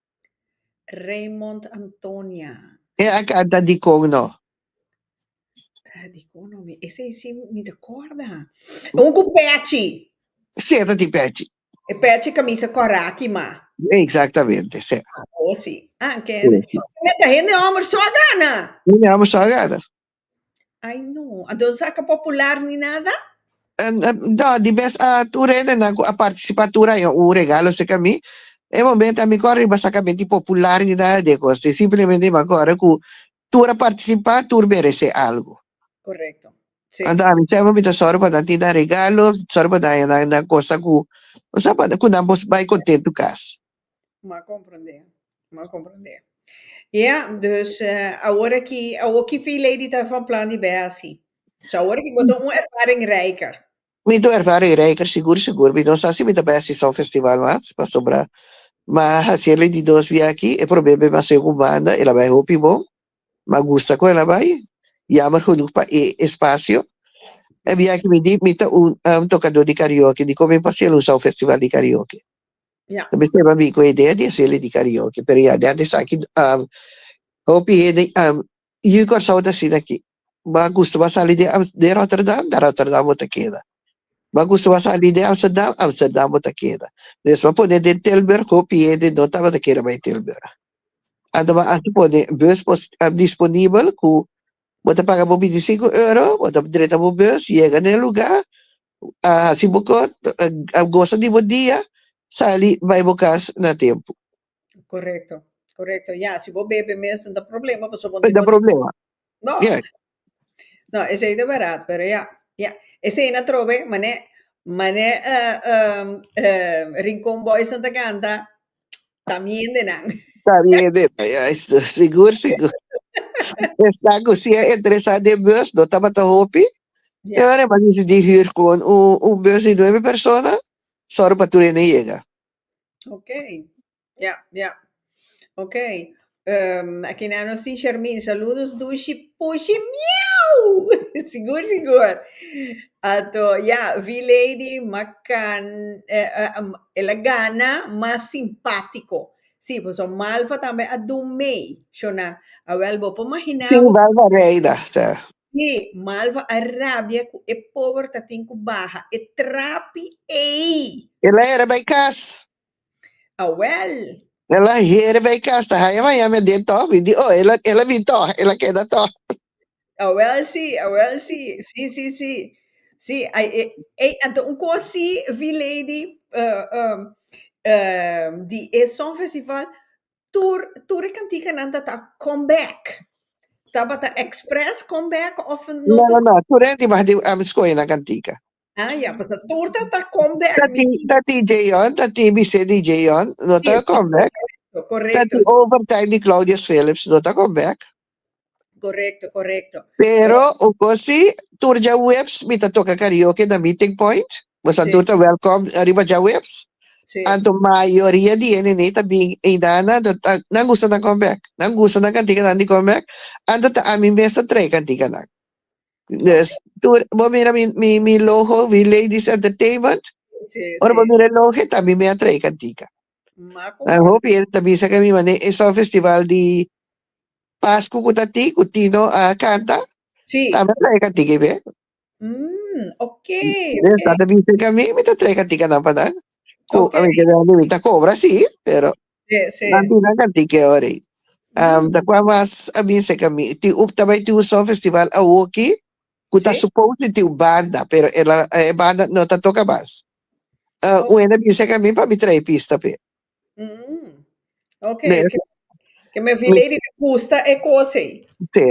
Raymond Antonia. E akí ta dikon no. Ta dikon no mi. Ese i si mi ta kòrda. Un ku pèchi. Sí, e ta tin pèchi. E pèchi kamisa kòraki ma. Eksaktamente, sí. Awo si. An kende. Mita hende hòmber sò gana. Hende hòmber sò gana. Ai no, ando sa ka popular ni nada? Eh, eh, da, di bes a tur rendenan ku a partisipá tur aña un regalo seka mi. E momento a mi kòrda riba sa ka menti popular ni nada di e kos. E simplemente mi a kòrda ku tur a partisipá, tur meresé algu. Korekto. Si. Anto ami sèpel mi ta sòru pa nan tin nan regalo, sòru pa nan aña nan kosa ku, bo sa, pa ku nan por bai kontentu kas. M'a comprendé, m'a comprendé. Ya, dus awor aki, awor ki fi Lady ta van plan di bè hasi? So awor aki bo ta un ervaring rijker. Mi ta un ervaring rijker sigur sigur, mi no sa si mi ta bè hasi sa un festival mas, pasobra m'a hasi e Lady dos bia aki, e probé b'e masai ku un banda, el a bai hopi bon, m'a gusta kon el a bai, yammer genoeg pa e espasio. E bia aki mi di mi ta un tokadó di karaoke, dikon mi pa hasiel un sa un festival di karaoke? Yeah. Tabi seba mi ku idea di hacerle di karaoke, pero ya dea desaki um, hopi hende um, yu Kòrsou ta asina ki. Ba gusto ba sali de, Am- de Rotterdam, na Rotterdam bo ta keda. Ba gusto ba sali de Amsterdam, Amsterdam bo ta keda. Des ba pone den Tilburg, hopi hende no tabata keda bai Tilburg. Anda ba hasi pone bus pos, um, disponibel ku bo ta paga bo binti sinku euro, bo ta drenta bo bus, yega na e lugá, a hasi bo kos, a gosa di bo dia, sali bai bo kas na tempu. Korekto, korekto. Ya, si bo bebe mes no ta problema, pasobra bo No tin ta bo di. problema. No, Ya. no, esei ta barato, pero ya, ya. Esei na trobe, mané, mané eh, eh, eh, Rincon Boysnan ta kanta, Ta miende nan. Ta miende nan, ya esto, sigur, sigur. Esnan cu si a entresa den bus, no tabata hopi. E Ya. ora hemos decidi huur gewoon un, un bus di nuebe persona, sor pa tur hende yega. Oké, ya, ya. Oké. Akina nos tin Shermin, saludos dushi pushi miau! Sigur, sigur! Anto ya, V-Lady makan, el a gana mas simpático. Sí, pues so Malva tambe a dun mee, shona. Awel, bo por magina. Sí, Malva reina ta. Sí, Malva a rabia cu e pober ta tin cu baha e trapi ei! El a era bay cas. Awel! E la heri bay cas ta haya Miami aden toch mi di oh el a el a bin toch el a keda toch. Awel si, awel si, si si si si ay e ey anto un cos si vi lady uh um um di e Songfestival tur tur e cantikanan ta ta come back tabata express come back of no No no no tur e dibah di ami scoge nan cantica. Ah, ya, pues a torta ta come back. Tati, mi. tati Jeyon, tati Bise di Jeyon, no ta Yes. come back. Correcto, Tati correcto, overtime di Claudius Phillips, no ta come back. correcto, correcto. Pero, o cosi, tur ja webs, mi ta toca karaoke na meeting point. Pues an Sí. tur ta welcome arriba ja webs. Sí. Anto mayoria di ene nee ta bin eindana, anto ta- nan gusta nan come back. Nan gusta nan kantika nan di come back. Anto ta ami mes ta trae kantika nan. Dus, tu, bo mira mi, mi, mi logo, mi Ladies Entertainment. Sí, Ora bo sí. mira el logo, e también me atrae cantica. Maco. Dan hopi el ta bisa que mi mané es un festival di Pascu cu ta ti, cu Tino a canta. Sí. Ta me trae cantica y ve. Mm, ok, Dus, ok. ta ta bisa que mi, mi ta trae cantica nan pa nan. Cu, Ok. a mi que mi ta cobra, sí, pero Bambino kanti ke ora ei. Ta kua mas a bisa ka mi. Tin un, ta bai tin un son festival awoki ku ta supos di tin un banda, pero e la, e banda no ta toka mas. Un hende a bisa ka mi pa mi trae pista p'e. Oke, ke, ke me fia lei di ta gusta e kos ei. Te,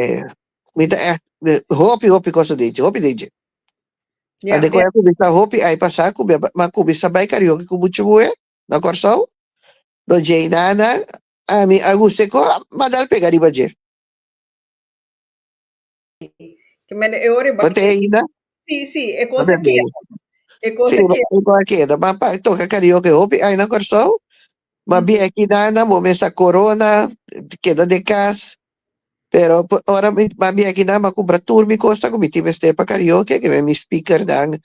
mi ta èkt, de, hopi, hopi kos a dichi, hopi DJ. Ya, Ande ku e a ya. kuminsá hopi ai pasá, ku mi a, mi a kuminsá bai karaoke ku muchu muhé. na Kòrsou, lo djei nada, ami a gusta e kò, ma dal pega riba dje. Bo t'e ainda? Bo ta beni? Si, e kò a keda, ma pa toka karaoke hopi ai na Kòrsou, ma bièki nada bo mester a korona, keda den kas, pero ora mi ta bièki nada mi a kumpra tur mi kosnan ku mi tin mester pa karaoke, mi a mi speakernan,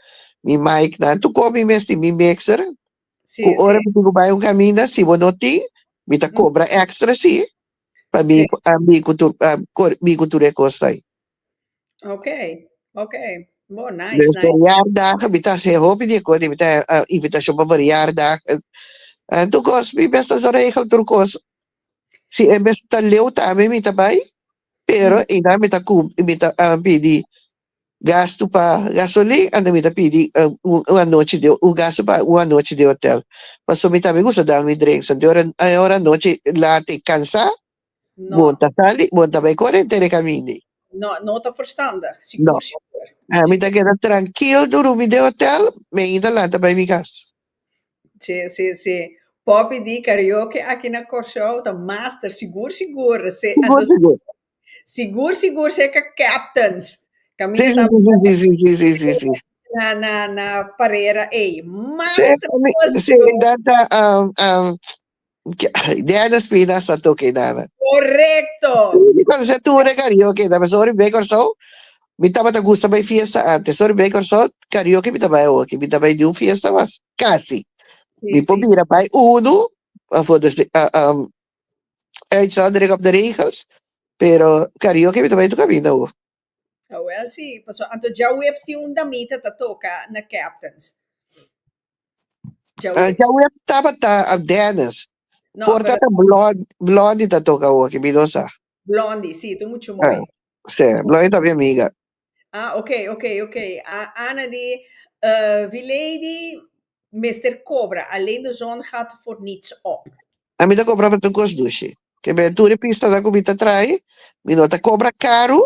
mi micnan, tu kò mi mes tin, mi mixer, Sí, Cu ora sí. mi tin cu bay un caminda, si bo no tin, mi ta cobra extra, sí, pa mi, Sí. a mi cu tur, a cor, mi cu tur e cos tay. Ok, ok. Bo, Nos nice, nice. verjaardagen, mi ta haci hopi di e cos, mi ta ah, invitacion pa verjaardagen. Ah, tur cos, mi best ta zo regel tur cos. Si e mes ta leu tambe mi ta bay, pero Mm. einan mi ta cum, mi ta ah, pidi Gastu pa gasolin, anda mi ta pidi un anochi di un gastu pa un anochi di hotel paso mi tambe gusta dal mi drenk so di ora e ora anochi lata y cansa bon ta sali bon ta bay cora henter e camindi. No, no ta verstandig, sigur sigur. No, mi ta keda trankil durumi den hotel, mainta lanta bay mi cas. Si, si, si. Poppy di karaoke aki na Kòrsou ta master, sigur sigur. Sigur sigur. Sigur sigur se ka captains ka mi ta bou na na parera ey mas traboso. Se edat ta Diana Espinas ta toca e nana. Correcto. Cuando se tur e karaoke ta pasobra ori bay Corsou mi tabata gusta bay fiesta antes so ori bay Corsou karaoke mi ta bay awoke mi ta bay niun fiesta mas casi mi por bira bay uno for Uit zal druk op de regels, pero karaoke mi ta bai tur kabinda ho. Awel si, paso anto djaweps di un damita ta toka na Captains. Djaweps. Djaweps tabata a Dennis. No, Por pero tata Blond, Blondie ta toka ho aki, mi no sa. Blondie, si, tu mucho mooi. Si, Blondie ta mi amiga. Ah ok ok ok a Ana di eh Vileidy mester cobra alleen de zon gaat voor niets op. A mi ta cobra pa tur cos dushi. Ke b'e tur e pista nan cu mi ta traai, mi no ta cobra caru,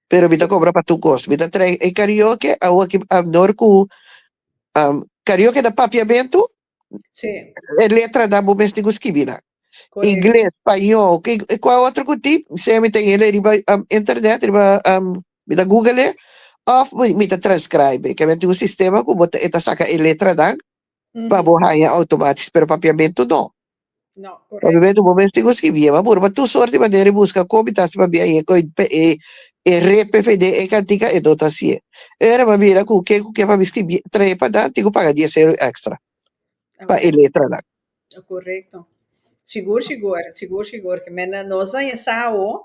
pero mi ta cobra pa tur cos. Mi ta traai e karaoke, awo aki a nor cu karaoke na papiamento, Sí. E letra nan bo mester ku skibi nan. Correcto. Ingles, Spañol, ki kua otro ku tin, sea mi ta yele riba um, internet, riba um, mi ta google e, of mi, mi ta transcribe. Ke men tin un sistema ku bo ta, e ta saka e letra nan pa Mhm. bo haña automatisch, pero papiamento no. Pasobra bo mester tin un skibia bo apura pa tur sort di manera i buska kon mi ta hasi pabia i e RPVD e kantika e no ta hasié. Ora bo a mira ku ke ku ke pa mi skibia trahe pa nan tin ku paga dies euro èkstra pa e letranan. Korekto. Sigur sigur, sigur sigur, nos a ya sa awo.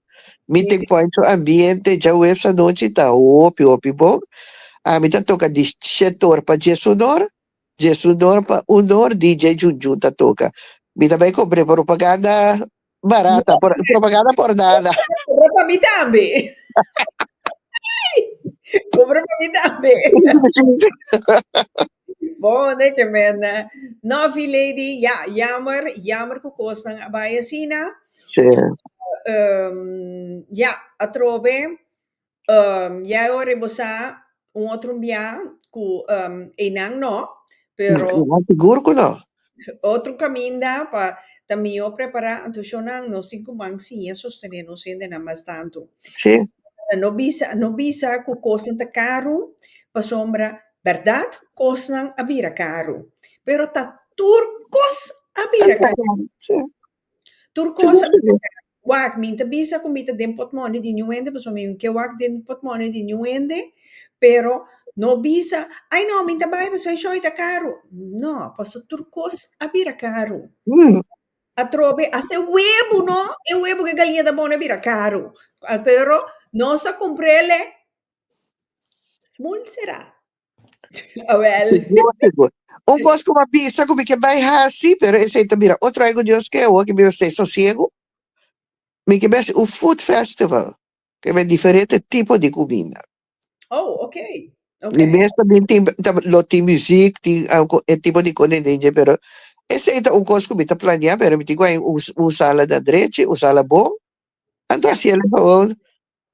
Meeting point su ambiente djaweps anochi ta hopi hopi bon. Ami ta toka di shet or pa dies un or, dies un or pa un or DJ Jun Jun ta toka. Mi ta bai compre propaganda barata, por- propaganda por nada. Compra pa mi tambe. Compra pa mi tambe. Bon e tremenda. Novi lady ya jammer jammer cu cosnan a bay asina. Sí. Um, ya, atrobe, um, ya e ora bo sa un otro mbia cu, um, eynan no, pero. No, sigur cu no. Otro caminda pa ta mijo prepara anto shonan nos tin cu man siña sostene nos hendenan mas tanto. Sí. No bisa, no bisa cu cosnan ta caro pasobra Bèrdat, kosnan a bira karu, pero ta tur kos a bira karu. Tur kos a bira karu. Wak, mi ta bisa ku mi ta den pòtmòni di niun hende, pasobra mi no ke wak den pòtmòni di niun hende, pero no bisa, ai no, mi ta bai pasobra e shòi ta karu. No, pasobra tur kos a bira karu. Atrobe, hasta e webu no, e webu ku e galinata bon a bira karu, pero nos ta kumprel e Smul sera? Awel. Sigur, sigur. Un kos ku bo a bisa ku mi ke bai hasi, pero esei ta bira otro aigu Dios ke awo ke mi lo stay sosiegu, mi ke bai hasi un food festival, ke bai diferente tipo di kuminda. Oh, ok. Ok. Di mes también tin, ta, lo tin muziek, tin algu e tipo di kone dje, pero esei ta un kos ku mi ta planea, pero mi tin ku haña un, un sala na drechi, un sala bon. Anto hasiel e favor,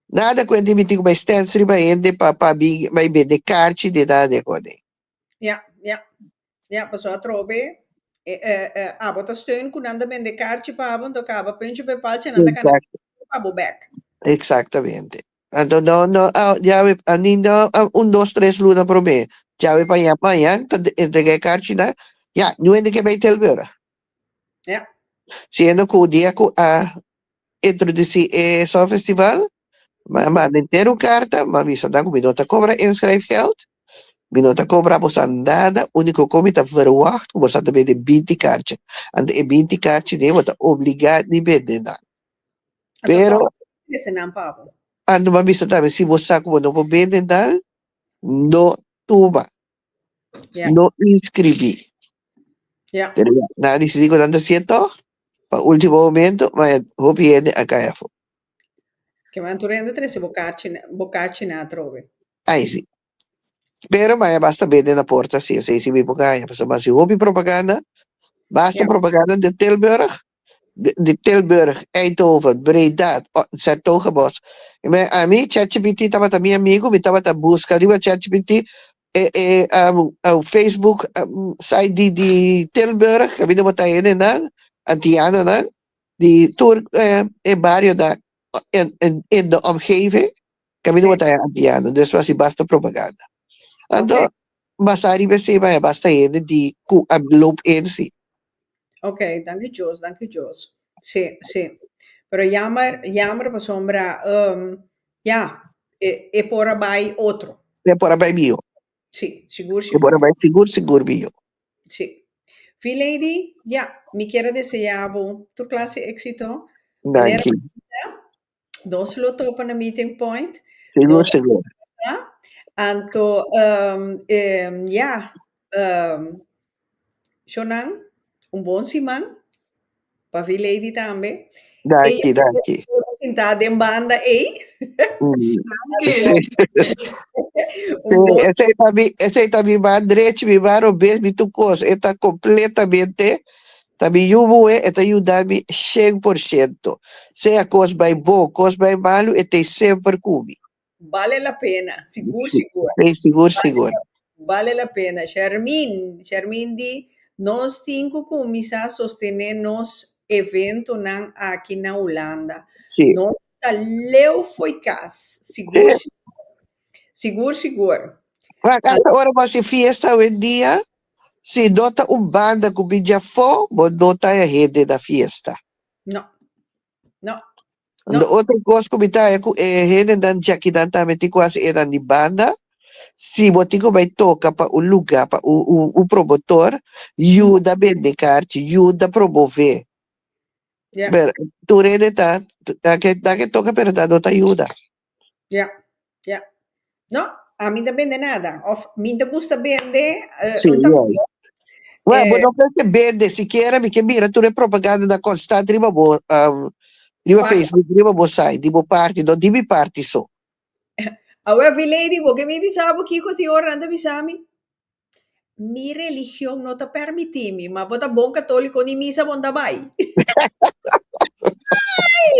Nada cu e dimiti cu bai stens riba hende pa pa bi bai bende carchi di nada di hode. Ya, ya, ya, paso atrobe e e e abo ta steun cu nan ta bende carchi pa abo, anto caba punchi pa e palchi e nan ta cana Exacto, punchi pa abo bek. exactamente. Anto no no a yawe a ni no a un dos tres luna prome yawe pa ya mañan ta de- entrega e carchi nan ya nu hende ke bai tel be ora. Yeah. Siendo cu dia cu a introduci e Song Festival, mi a manda henter un carta, mi a bisa nan cu mi no ta cobra inschrijfgeld, mi no ta cobra boso nada, unico con mi ta verwacht cu boso ta bende binti carchi. Anto e binti carchi den bo ta obliga di bende nan. Anto Pero, como cu dice nan pabo? anto mi a bisa tambe, si bo sa cu bo no por bende nan, no tuma. Ya. No inscribí. Ya. Pero ya, na decidí cu nan ta cierto, pa último momento, ma ya hopi hende a caya fo. Ke man tur hende trece bo karchi, na- bo karchi na atrobe. Ay, sí. Pero ma ya basta bende na porta, sí, esei sí mi por caya, pasobra ma si hopi propaganda, basta Ya. propaganda de Tilburg, di Tilburg, Eindhoven, Breda, o 'n Zertogenbosch. I me ami ChatGPT tabata mi amigu, mi tabata buska riba ChatGPT e e Facebook site di di Tilburg, ke mi no bo ta hende nan, antianonan, di tur e barionan en en en de omgeving. Camino bo ta haya antiano, despues asi basta propaganda. Anto, okay. basa riba si, ma basta hende di ku a loop in si. Ok, danki Jos, danki Jos. Si, si. Pero jammer, jammer pa sombra, um, ja, e, e pora bai otro. E pora bai bio. Si, sigur, sigur. E pora bai sigur, sigur bio. Si. V-Lady, ja, mi kere deseabo tur klase éxito. Danki. Nos lo topa na meeting point. Sigur, sigur. Huh? Anto, um, um, ya, um, Shonan, un bon siman, pa fi Lady tambe. Danki, Ey, danki. Sinta den banda, ey. Mm. Sí, Un bon, ese ta bi, ese ta bi ba drech, bi ba robes, bi tu cos. Eta completamente Ta mi yubu we, e ta yuda mi shen por shento. Sea kos bai bon, kos bai malu, e t'ei semper ku mi. Bale la pena, sigur sigur. T'ei sigur sigur. Bale la pena. Shermin, Shermin di, Nos tin ku kuminsá sostené nos eventonan aki na Hulanda. Si. Nos ta leu fo'i kas, sigur sigur. Sigur sigur. Wak, asta ora bo hasi fiesta awendia? Si no ta un banda cu bin dja afo, bo no ta haya hende na fiesta. No. No. No. Unda otro cos cu mi ta haya cu e hendenan djakinan tambe tin cu haci eran di banda, si bo tin cu bay toca pa un lugar, pa un, un, un promotor, yuda bende carchi, yuda promove. Yeah. Pero tur hende ta, ta, ta ke, ta ke toca pero ta no ta yuda. Ya, ya. No, ami no ta bende nada, of mi ta gusta bende, eh, Sí, un ta yoi. kopo, Wè, bo eh, no ke ke bende, sikiera mi ke mira tur e propagandanan konstant riba bo, am, riba Parti. Facebook, riba bo site, di bo parti, no di mi parti so. Awe, Vilady, bo ke mi bisa bo kiko tin ora nan ta bisa mi? Mi religion no ta permiti mi, ma bo ta bon katoliko ni misa bo no ta bai. Ay!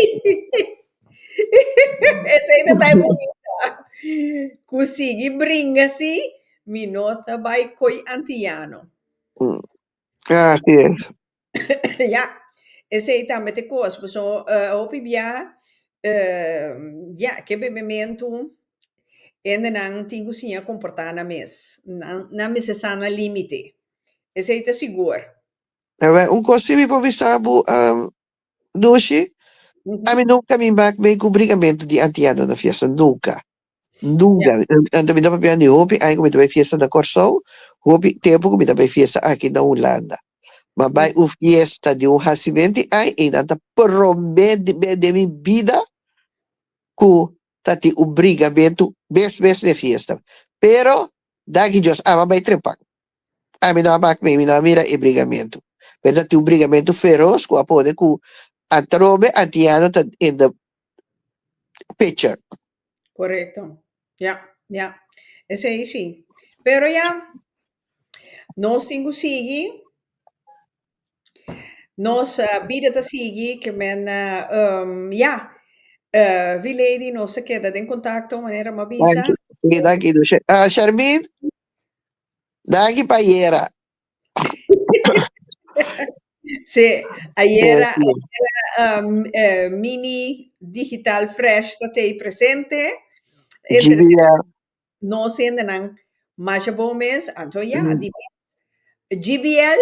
Esei ta tai bonita. Ku sigui bringa si, mi no ta bai koi antiyano. Así es. Ya, esei tambe ta e kos, pasobra hopi bia, ya, ke bebementu hendenan tin ku siña komportá nan mes. Nan, nan mester sa nan límite, esei ta sigur. Awor, un kos si mi por bisa bo, Nushi, ami nunka mi mak mei ku brigamentu di antiano na fiesta, nunka. Nunca. Anto mi ta papia di hopi aña cu mi ta bay fiesta na Corsou, hopi tempo cu mi ta bay fiesta aki na Hulanda. Ma bay un fiesta di un hacimen tin ay y nan ta prome be den mi bida cu ta tin un brigamentu mes mes den fiesta. Pero daki Dios ama bay trepan. Ami no a mak mi, mi no a mira e brigamentu. Pero ta tin un brigamentu feros ku a pone ku atrobe antiano ta in the picture. Korekto. Ya, ya. Esei si. Pero ya, nos tin ku sigui. Nos bida ta sigui, ke men, ya, Vee Lady, nos ta keda den kontakto, manera mi a bisa. Danki, danki Shermin. Danki pa ayera. Sí, ayera, ayera um, eh, Mini Digital Fresh ta tei presente. Interesante. GBF. No sendenan masha bon mes, anto ya, mm. di mes. GBL?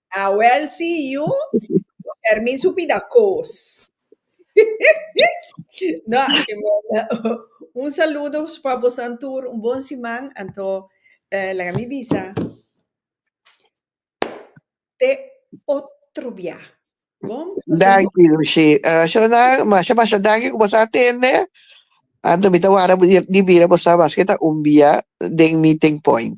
Ah well si yu por permiso pida cos. No aki manda un saludo pa bosan tur un bon siman anto eh laga mi bisa te otro bia bon paso bon. Danki Lushi eh shonnan masha masha danki ku boso a tende anto mi ta wara di bira boso a bas keda un bia den meeting point.